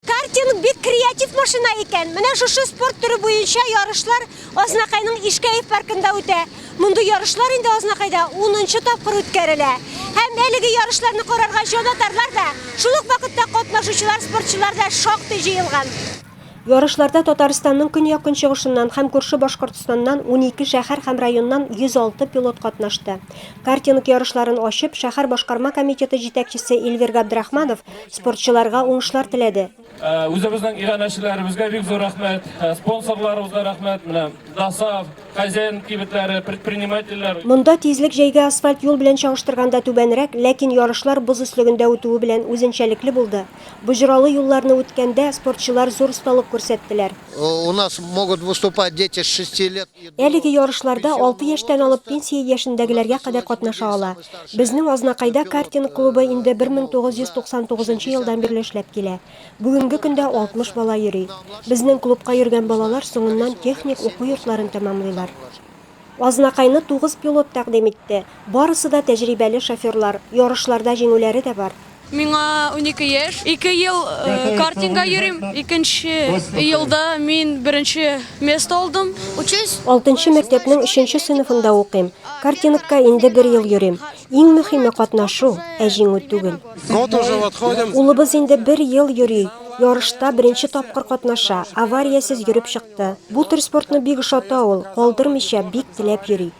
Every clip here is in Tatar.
Картинг бик креатив машина икән. Менә шушы спорт төре буенча ярышлар Азнакайның Ишкәев паркында үтә. Мондый ярышлар инде Азнакайда 10 нчы тапкыр үткәрелә. Һәм әлеге ярышларны карарга җанатарлар да, шул ук вакытта катнашучылар спортчылар да шактый җыелган. Ярышларда Татарстанның көньяк-көнчыгышыннан һәм күрше Башкортстаннан унике шәһәр һәм районнан 106 пилот катнашты. Картинг ярышларын ачып, шәһәр башкарма комитеты җитәкчесе Эльвир Габдрахманов спортчыларга уңышлар теләде. Үзебезнең иганәчеләребезгә бик зур рәхмәт, спонсорларыбызга рәхмәт, менә ДАСАФ, хозяин кибетләре, предпринимательләр. Монда тизлек җәйге асфальт юл белән чагыштырганда түбәнрәк, ләкин ярышлар боз өслегендә үтүе белән үзенчәлекле булды. Боҗралы юлларны үткәндә, спортчылар зур осталык күрсәттеләр. У нас могут выступать дети с шести лет. Әлеге ярышларда алты яшьтән алып пенсия яшендәгеләргә кадәр катнаша ала. Безнең Азнакайда картинг клубы инде 1999 нчы елдан бирле эшләп килә. Бүгенге көндә 60 бала йөри. Безнең клубка йөргән балалар соңыннан техник уку йортларын тәмамлыйлар. Азнакайны тугыз пилот тәкъдим итте. Барысы да тәҗрибәле шоферлар, ярышларда җиңүләре дә бар. Миңа унике яшь. Ике ел картинга йөрим. Икенче елда мин беренче место алдым. Учусь. Алтынчы мәктәпнең өченче сыйныфында укыйм. Картингка инде бер ел йөрим. Иң мөһиме катнашу, ә җиңү түгел. Год уже отходим. Улыбыз инде бер ел йөри. Ярышта беренче тапкыр катнаша, авариясез йөреп чыкты. Бу төр спортны бик ошата ул, калдырмыйча, бик теләп йөри.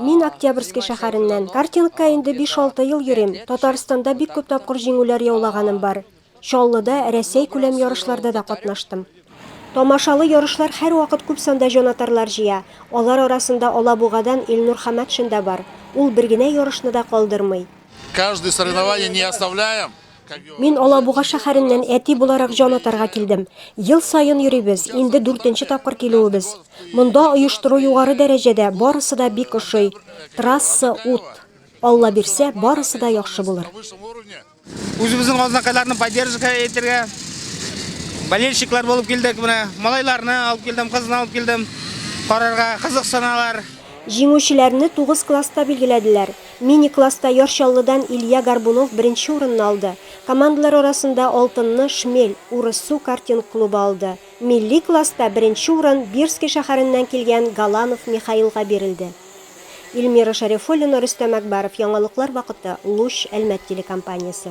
Мин Октябрьский шәһәреннән. Картингка инде биш-алты ел йөрим. Татарстанда бик күп тапкыр җиңүләр яулаганым бар. Чаллыда, Рәсәй-күләм ярышларда да катнаштым. Тамашалы ярышлар һәрвакыт күп санда җанатарлар җыя. Алар арасында Алабугадан Илнур Хамәтшин да бар. Ул бер генә ярышны да калдырмый. Каждый соревнование не оставляем. Мин Алабуга шәһәреннән әти буларак җан атарга килдем. Ел саен йөрибез, инде дүртенче тапкыр килүебез. Монда оештыру югары дәрәҗәдә, барысы да бик ошый. Трасса, ут. Алла бирсә, барысы да яхшы булыр. Үзебезнең азнакайларны поддержка итәргә болельщиклар булып килдек менә. Малайларны алып килдем, кызны алып килдем. Карарга кызыксыналар. Җиңүчеләрне тугыз класста билгеләделәр. Мини-класста Яр Чаллыдан Илья Горбунов беренче урынны алды. Командалар арасында алтынны Шмель, Урыссу картинг клубы алды. Милли класста беренче урын Бирски шәһәреннән килгән Галанов Михаилга бирелде. Ильмира Шәрифуллина, Рөстәм Әкбаров, Яңалыклар вакыты, Луч, Әлмәт телекомпаниясе.